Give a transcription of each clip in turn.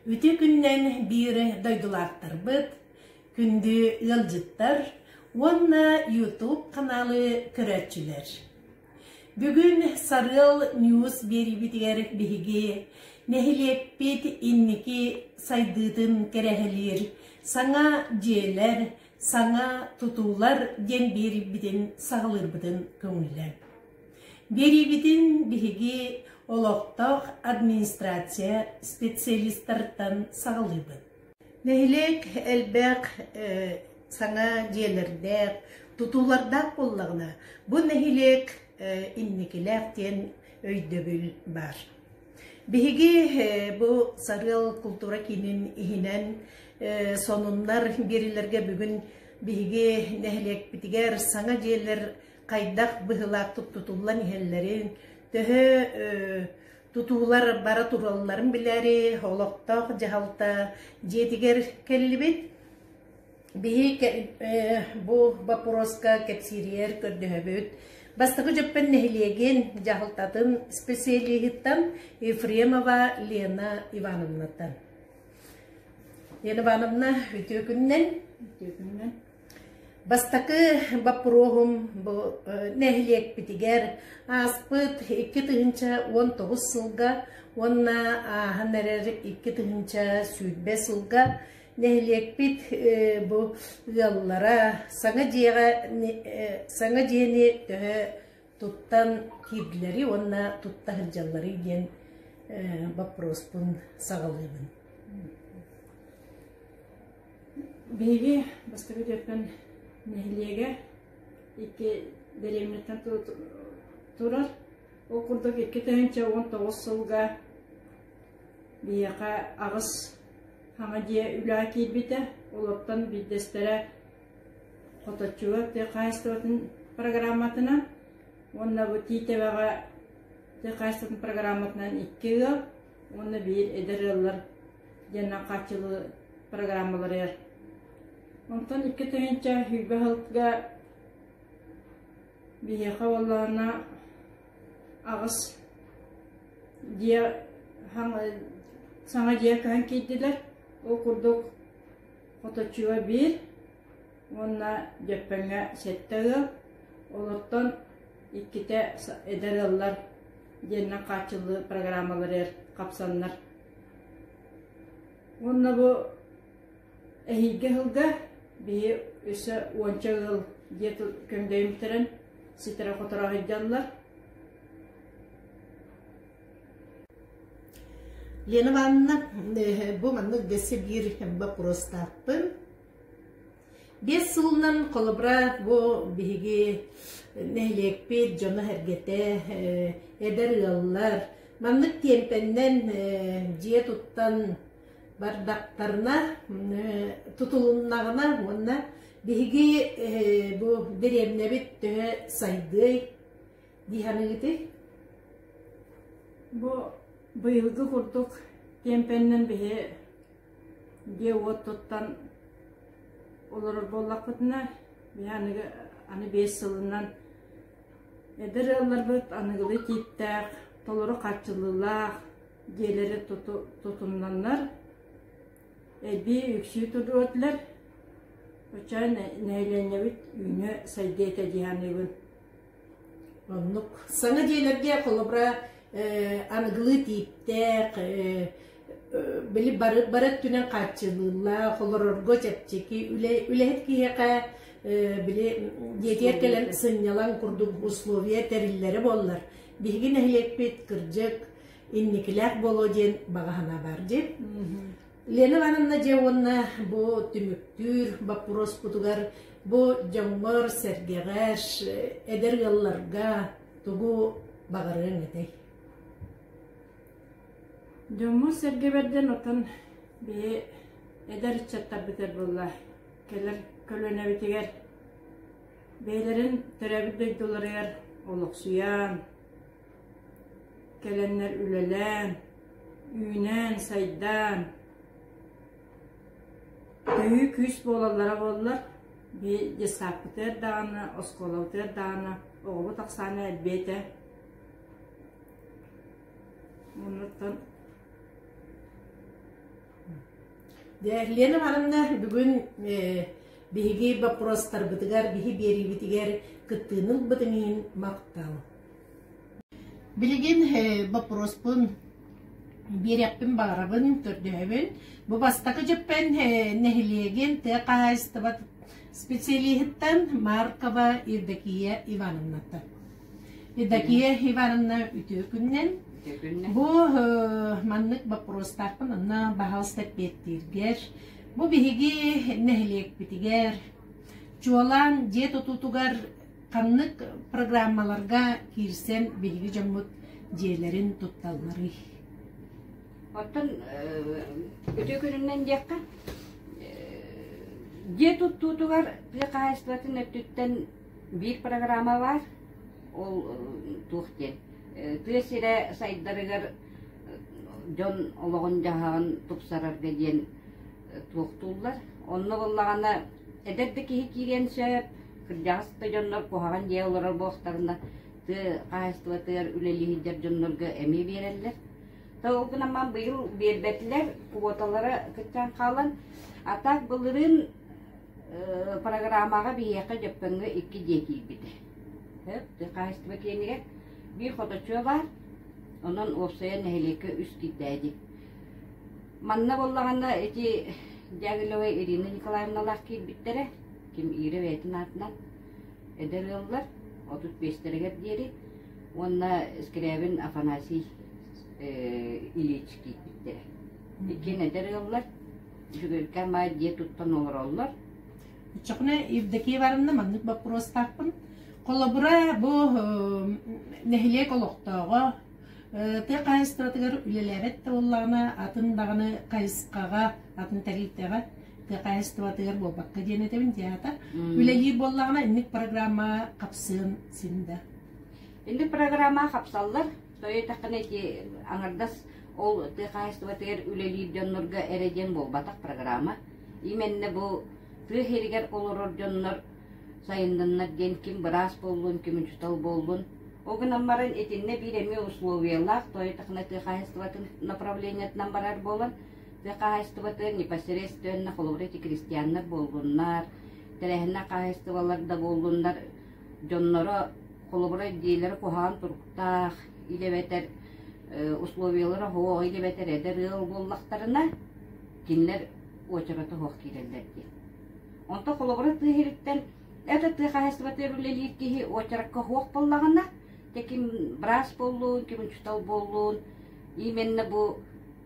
Үтүө күннэн биир дойдулаахтарбыт, күндү ыалдьыттар уонна YouTube каналы көрөөччүлэр. Бүгүн Сарыал News биэриибитигэр биһиги нэһилиэкпит инники сайдыытын кэрэһэлиир саҥа дьиэлэр, саҥа тутуулар диэн биэрбитин саҕалыырбытын көҥүлэ. Биэриибитин биһиги олохтоох администрация специалистартан саҕалыыбыт. Нэһилиэк элбэх саҥа дьиэлэрдээх, тутуулардаах буоллаҕына, бу нэһилиэк инникилээх диэн өйдөбүл баар. Биһиги бу Сарыал култуура киинин иһинэн сонуннар биэриилэргэ бүгүн биһиги нэһилиэкпитигэр саҥа дьиэлэр хайдах быһыылаахтык тутуллан иһэллэрин, төһө тутуулар бара туралларын билээри олохтоох дьаһалта дьиэтигэр кэллибит. Биһи бу боппуруоска кэпсииригэр көрдөһөбүт. Бастакы Дьөппөн нэһилиэгин дьаһалтатын специалиһыттан Ефремова Лена Ивановнаттан. Лена Ивановна, үтүөкүннэн. Үтүөкүннэн. Бастакы боппуруоһум бу нэһилиэкпитигэр ааспыт икки тыһыынча уон тоҕус сылга уонна ааһан эрэр икки тыһыынча сүүрбэ сылга Нэһилиэкпит бу ыаллара саҥа дьиэҕэ саҥа дьиэни төһө туттан киирдилэрий уонна тутта сылдьалларый диэн боппуруоспун саҕалыыбын. Биһиги бастакы түөкөн нэһилиэгэ икки дэриэбинэттэн турар ол курдук икки тыһыынча уон тоҕус сылга биһиэхэ аҕыс Хаҥа дьиэ үлэҕэ киирбитэ, олортон биирдэстэрэ Хоточчуга тыа хаһаайыстыбатын программатынан уонна бу Тиитэбэҕэ тыа хаһаайыстыбатын программатынан икки ыал уонна биир эдэр ыаллар диэннэн хааччылыы программаларыгар. Онтон икки тыһыынча сүүрбэ сылга биһиэхэ буоллаҕына аҕыс дьиэ саҥа дьиэ көһөн киирдилэр ол курдук хоточуга биир уонна дьөппөҥҥө сэттэ ыал олортон иккитэ эдэр ыаллар диэннэн хааччыллыы программалары хапсаннар уонна бу Эһиилги сылга биһи өссө уонча ыал дьиэ көмдөйүн бүтэрэн ситэрэ-хоторо аһыйдаллар. Лена Ивановна, бу маннык дэсэ биир боппуруостаахпын. Биэс сылынан холобура бу биһиги нэһилиэкпит дьоно-сэргэтэ, эдэр ыаллар маннык тиэмпэннэн дьиэ туттан бардахтарына тутулуннаҕына уонна биһиги бу дэриэбинэбит төһө сайдыай дии саныыгытый? Бу быйылгы курдук киэмпэнинэн биһи дьиэ-уот туттан олорор буоллахпытына биһи аныгы аны биэс сылынан эдэр ыалларбыт аныгылыы тииптээх толору хааччыллыылаах дьиэлэри туту тутуннаннар эбии үксүү тутуотулар оча нэһилиэнньэбит үүнүө сайдыа этэ дии саныыбын оннук саҥа дьиэлэргэ холобура аныгылыы тииптээх били бары бары өттүнэн хааччылыыллаах олорорго чэпчэки үлэһит киһиэхэ били дьиэтигэр кэлэн сынньалаҥ курдук условия тэриллэрэ буоллар биһиги нэһилиэкпит кырдьык инникилээх буолуо диэн баҕаһына бар дии. Лена Ивановна дьэ уонна бу түмүктүүр боппуруоспутугар бу дьоҥҥор, сэргэҕэр, эдэр ыалларга тугу баҕарыаҥ этэй? Дьоммун-сэргэбэрдэн отон бии эдэр ыччаттарбытыр буолла кэлэр көлүөнэбитигэр бэйэлэрин төрөөбүт дойдуларыгар олохсуйан Кэлэннэр үлэлээн, үүнээн-сайдаан, төһүү күүс буолаллара буоллар, бии детсадпытыгар даҕаны, оскуолабытыгар даҕаны оҕобут ахсаана элбиэ этэ. Оннуттан Лена Ивановна, бүгүн биһиги боппуруостарбытыгар, биһи биэриибитигэр кыттыыны ылбытыҥ иһин махтал. Билигин боппуруоспун биэриэхпин баҕарабын, көрдөһөбүн. Бу бастакы дьыппэн нэһилиэгин тыа хаһаайыстыба специалиһыттан Маркова Евдокия Ивановнаттан. Евдокия Ивановна үтүө күннэн. Бу маннык боппуруостаахпын онно баһаалыста эппиэттииргэр, бу биһиги нэһилиэкпитигэр, чуолаан дьиэ тутуутугар Ханнык программаларга киирсэн биһиги дьоммут дьиэлэрин тутталларый? Оттон үтүө күнүнэн диэххэ, дьиэ туттуутугар тыа хаһаайыстыбатын өттүттэн биир программа баар, ол туох диэн, тыа сирэ сайдарыгар дьон олоҕун-дьаһаҕын тупсарарга диэн туохтууллар. Онно буоллаҕына, эдэр да киһи киириэн сөп, Кырдьаҕас да дьоннор куһаҕан дьиэ олорор буолтарына, тыа хаһаайыстыбатыгар үлэлиһиидэр дьоннорго эмиэ биэрэллэр. То ол гынан ман быйыл биэрбэтилэр куоталара кыччаан хаалан, а так былырын программаҕа биһиэхэ Дьөппөҥҥө икки дьиэ киирбит. Сөп, хаһаайыстыба киэнигэр биир хоточуо баар, онон уопсайа нэһилиэккэ үс киирдээди. Манна боллаҕына эти Дягилева Ирина Николаевналаах киирбиттэрэ, ким иирэ бэйэтин аатынан эдэр ыаллар отут биэстэригэр диэри уонна скрябин афанасий ильич киирбиттэрэ иккиэн эдэр ыаллар Жүгүркэ Май дьиэ туттан олороллор. Чокне Евдокия Ивановна маннык боппуруостаахпын. Холобура бу нэһилиэк олохтооҕо тыа хаһайыстыбатыгар үлэлээбэт да буоллаҕына атын даҕаны хайысхаҕа атын тэрилтэҕэ тыа хаһаайыстыбатыгар буолбакка диэн этэбин театр үлэлиир буоллаҕына инник программаҕа хапсыан син да инник программаҕа хапсаллар тойотаххына ити аңардас ол тыа хаһаайыстыбатыгар үлэлиир дьоннорго эрэ диэн буолбатах программа именно бу тыа иһигэр олорор дьоннор сайыннаннар диэн ким быраас буоллун ким учутал буоллун ол гынан баран итиннэ биир эмиэ условиялаах тойотахна тыа хаһаайыстыбатын направлениетынан барар буолан Тыа хаһаайыстыбатын непосредственно холобура ити крестьяннар буоллуннар, тэрээһиннэр хаһаайыстыбалар да буоллуннар, дьонноро холобура идиэлэрэ куһаҕан туруктаах, или эбэтэр условиялара оһуох, или эбэтэр эдэр ыал буоллахтарына, кинилэр уочарата оһуох киирэллэр диэн. Онто холобура тыа иһириттэн это тыа хаһаайыстыбатыгар үлэлиир киһи уочаракка оһуох буллаҕына, те ким браас боллуун, ким учутал боллуун, Именно бу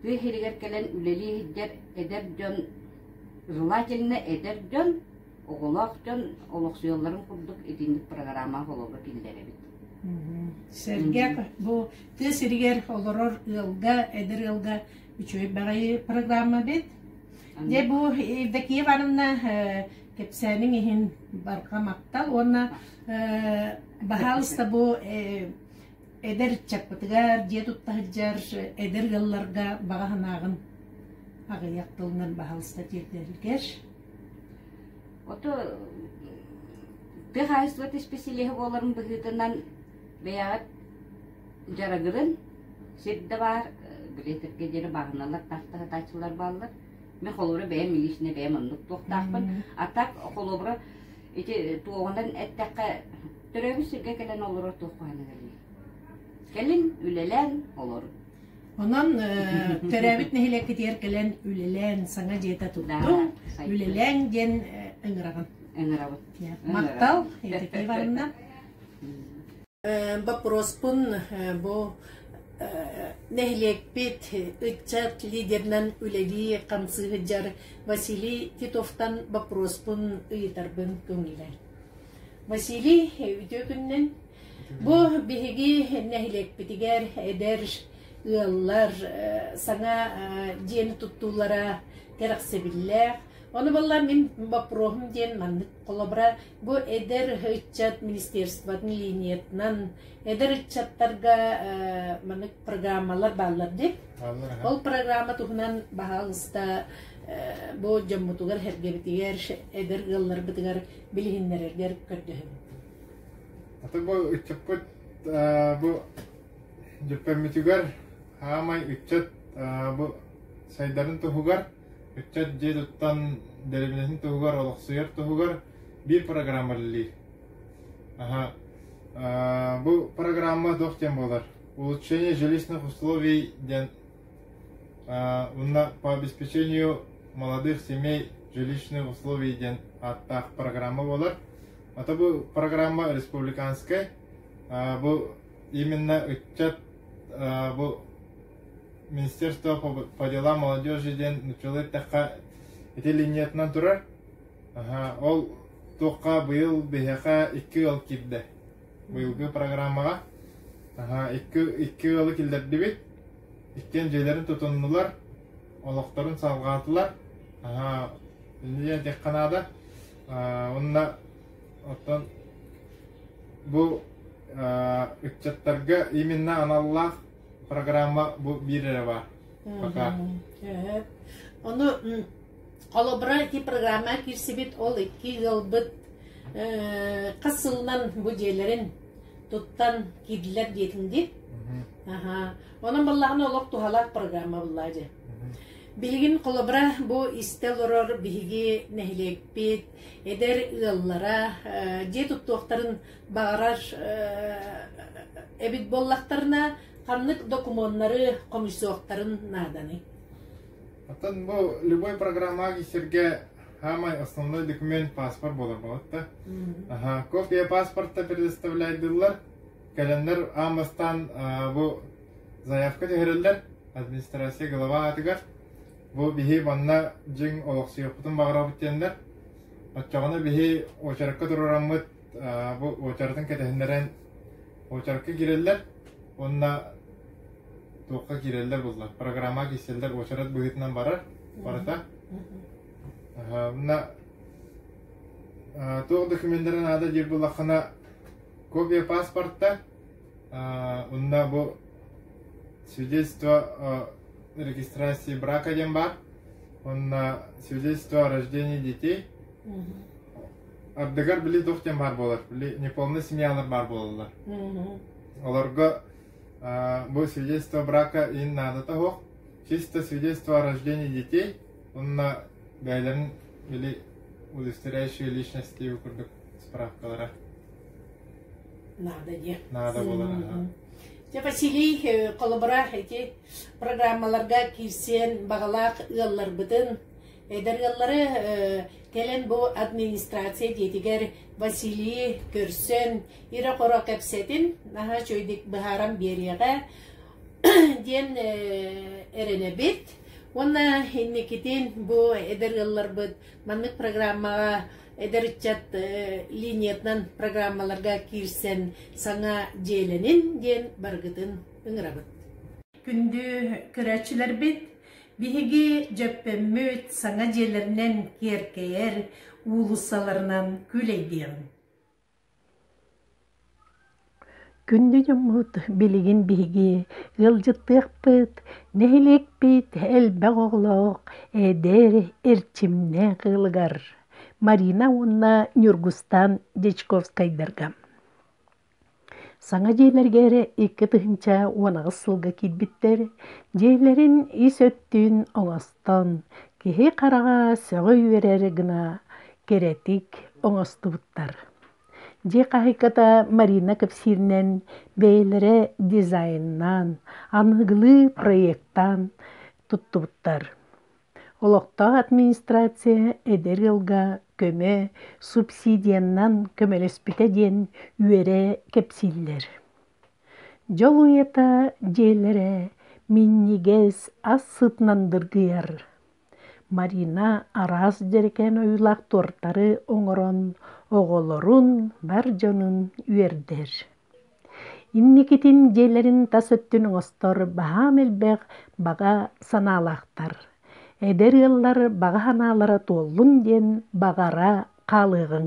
тыа иһигэр кэлэн үлэлии сылдьар эдэр дьон, желательно эдэр дьон, оҕолоох дьон олохсуйалларын курдук итинник программа холобура киллэрэбит. Сэргэ бу тыа сиригэр олорор ыалга, эдэр ыалга үчүгэй баҕайы программа бит. Дьэ бу Евдокия Ивановна кэпсээниҥ иһин барҕа махтал уонна баһаалыста бу Эдэр ыччаппытыгар, дьиэ тутта сылдьар эдэр ыалларга баҕа санааҕын аҕыйах тылынан баһалыста тиэрдэрилгэр Ото тыа хаһаайыстыбата исписэлииһэ буоларым быһыытынан бэйэҕит дьарыгырын сирдэ баар билиэтиргэ диэри бааһыналар таахта сатааччылар бааллар мен холобура бэйэм личнэй бэйэм оннук туохтаахпын а так холобура ити туоҕунан эттэххэ Төрөөбүт сиргэ кэлэн олорор туох бааныгыный? Кэлин үлэлэн олор. Онон төрөөбүт нэһилиэккитигэр кэлэн үлэлээн саҥа дьиэтэ туттуҥ, үлэлээҥ диэн ыҥыраҕын. Ыҥырабын. Мактал, Евдокия Ивановна. Боппуруоспун бу нэһилиэкпит ыччат лидерынан үлэлии хамсыыһыдьар Василий Титовтан боппуруоспун ыйытарбын көҥүлэ. Василий үтүө күннэн бу биһиги нэһилиэкпитигэр эдэр ыаллар саҥа дьиэни туттуулара кэрэхсэбиллээх. Оны балла мин боппуруоһум диэн маннык холобура бу эдэр ыччат министерствотын линиятынан эдэр ыччаттарга маннык программалар бааллар ди. Ол программа туһунан баһаалыста бу дьоммутугар, эргебитигэр, эдэр ыалларбытыгар билиһиннэрэргэр көрдөһөбүт. Аты бу ыччаппыт бу дьүппэммитигэр аамай ыччат бу сайдарын туһугар ыччат дьиэ туттан дэрибинэтин туһугар олохсуйар туһугар биир программа үлэлиир. Бу программа туох диэн буолар? Улучшение жилищных условий диэн Уонна по обеспечению молодых семей жилищных условий диэн ааттаах программа буолар. Ата бу программа республиканскай. Бу именно ыччат бу Министерство по делам молодежи диэн нуччалыы эттэххэ ити линиятынан турар. Ол туохха быйыл биһиэхэ икки ыал киирдэ. Быйылгы программаҕа наһаа икки, икки ыалы киллэрдибит, иккиэн дьиэлэрин тутуннулар, олохторун салҕаатылар. Наһаа дьэ диэххэ наада. Уонна оттон бу ыччаттарга именно аналлаах программа бу биир эрэ баар. Пока. Ону Холобура, ити программа киирсибит, ол икки ыалбыт хас сылынан бу дьиэлэрин туттан киирдилэр диэтин дии. Аха. Онон баллахан олох туһалаах программа буллаа дьэ. Билигин холобура бу истэ олорор биһиги нэһилиэкпит, эдэр ыаллара дьиэ туттуохтарын баҕарар эбит буоллахтарына, ханнык докумуоннары хомуйсуохтарын нааданы. Оттон бу любой программаҕа сиргэ самый основной документ паспорт буолар болотта. Аха, копия паспорта предоставляйдылар. Календарь аан бастаан бу заявка түһэрэллэр администрация глава атыгар. Бу биһи манна дьиҥ олохсуйуппутун баҕарабыт диэннэр. Оччоҕуна биһи очеркка турураммыт бу уочаратын кэтэһиннэрэн уочаракка киирэллэр уонна туохха киирэллэр буллар программаҕа киирсэллэр уочарат быһыытынан барар барыта уонна туох документары наада диир буллаххына копия паспорта уонна бу свидетельство регистрации брака диэн бар уонна свидетельство о рождении детей ардыгар били туох диэн баар буолар, били неполная семьялар баар буолаллар. Олорго бу свидетельство брака ин наадата суох, чисто свидетельство о рождении детей уонна бэйэлэрин били удостоверяющие личности курдук справкалара. Надо диэн. Надо буолара. Дьэ Василий холобура ити программаларга киирсиэн баҕалаах ыалларбытын Эдэр ыаллары кэлэн бу администрация дьиэтигэр Василий көрсөн, ирэ-хоро кэпсэтин наһаа үчүгэйдик быһааран биэриэҕэ диэн эрэнэбит. Уонна инникитин бу эдэр ыалларбыт маннык программаҕа эдэр ыччат линиятынан программаларга киирсэн саҥа дьиэлэнин диэн барыгытын ыҥырабыт. Күндү көрөөччүлэрбит, Биһиги Дьөппөммүт саҥа дьиэлэринэн киэркэйэр уулуссаларынан күүлэйдиэм Күндү дьоммут, билигин биһиги ыалдьыттыахпыт, нэһилиэкпит элбэх оҕолоох, эдэр, эрчимнээх ыалыгар Марина уонна Ньургустан Дьячковскайдарга Саҥа дьиэлэргэ эрэ икки тыһыынча уон аҕыс сылга киирбиттэр. Дьиэлэрин ис өттүн оҥостон, киһи хараҕа сөҕө үөрэр гына кэрэтик оҥостубуттар. Дьиэ хаһыыката Марина кэпсииринэн бэйэлэрэ дизайннаан, аныгылыы проектаан туттубуттар. Олохтоох администрация эдэр ыалга көмө субсидияннан көмөлөспүтэ диэн үөрэ кэпсииллэр. Дьол уйата дьиэлэрэ минньигэс, ас сытынан дыргыйар. Марина араас дьэрэкээн ойуулаах туортары оҥорон оҕолорун, бар дьонун үөрдэр. Инникитин дьиэлэрин тас өттүн оҥостор баһаам элбэх баҕа санаалаахтар, эдэр ыаллар баҕа санаалара туоллун диэн баҕара хаалыаҕыҥ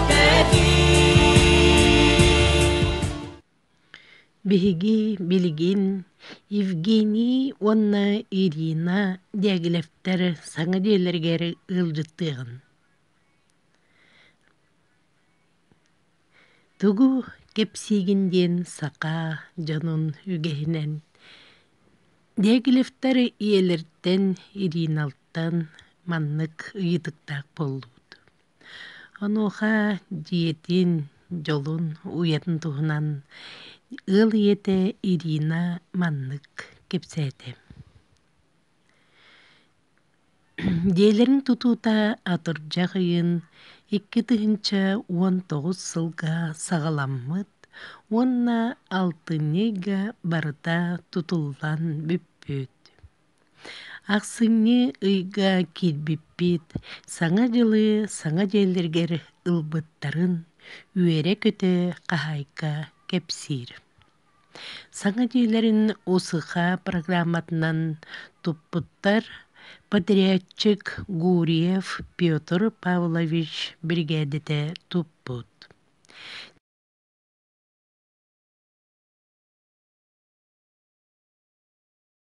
Биһиги билигин Евгений уонна Ирина Дягилевтэр саҥа дьиэлэригэр ыалдьыттыаҕын. Тугу кэпсиигин диэн саха дьонун үгэһинэн Дягилевтэр ийэлэртэн Ириналтан маннык ыйытыктаах буоллубут Онуоха дьиэтин, дьолун уйатын туһунан ыал ийэтэ Ирина маннык кэпсээтэ: Дьиэлэрин тутуута атырдьах ыйын икки тыһыынча уон тоҕус сылга саҕаламмыт уонна алтынньы ыйга барыта тутуллан бүппүт. Ахсынньы ыйга киирбиппит Саҥа дьылы саҥа дьиэлэригэр ылбыттарын үөрэ-көтө хаһаайка кэпсиир. Саҥа дьиэлэрин УСХ программатынан туппуттар подрядчик Гурьев Петр Павлович биригээдэтэ туппут.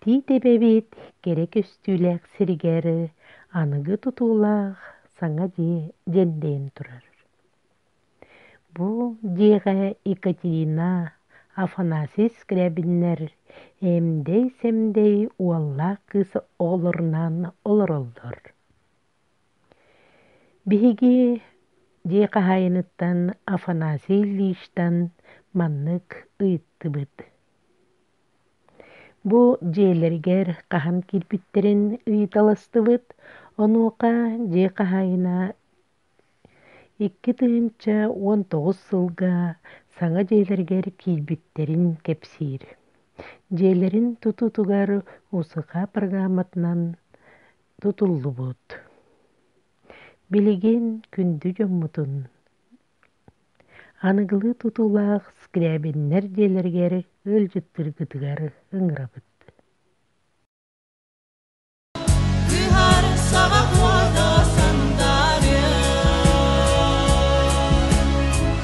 Тиитэбэбит кэрэ көстүүлээх сиригэр аныгы тутуулаах саҥа дьиэ дьэндэйэн турар. Бу дьиэҕэ Екатерина, Афанасий Скрябиннэр эмдэй-сэмдэй уоллаах кыыс оҕолорунаан олороллор. Биһиги дьиэ хаһаайыныттан Афанасий Ильичтан маннык ыйыттыбыт: Бу дьиэлэригэр хаһан киирбиттэрин ыйыталастыбыт, онуоха дьиэ хаһаайына икки тыһыынча уон тоҕус сылга саҥа дьиэлэригэр киирбиттэрин кэпсиир. Дьиэлэрин тутуутугар муусука программатынан тутуллубут. Билигин күндү дьоммутун аныгылыы тутуулаах скрябиннэр дьиэлэригэр ыалдьыттыргытыгар ыҥырабыт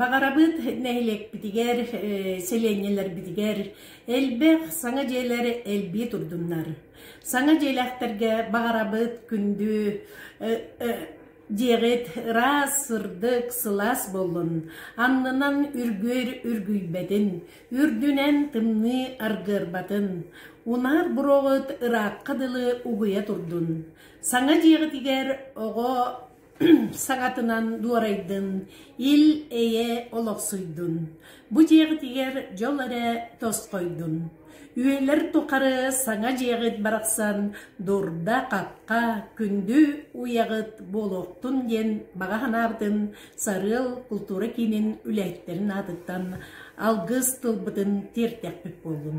Баҕарабыт нэһилиэкпитигэр, сэлиэнньэлэрбитигэр элбэх саҥа дьиэлэр элбии турдуннар. Саҥа дьиэлээхтэргэ баҕарабыт күндү диэҕит ыраас сырдык сылаас буоллун аннынан үргүөр үргүйбэтин үрдүнэн тымныы аргыарбатын унаар буроҕут ыраахха дылы угуйа турдун саҥа дьиэҕитигэр оҕо саҥатынан дуорайдын ил эйэ олохсуйдун бу дьиэҕитигэр дьол эрэ тосхойдун Үөлэр тухары саҥа дьиэҕит барахсан дурда-хахха, күндү уйаҕыт буолуохтун диэн баҕа санаабытын Сарыал култуура киинин үлэһиттэрин аатыттан алгыс тылбытын тиэртэхпит буоллун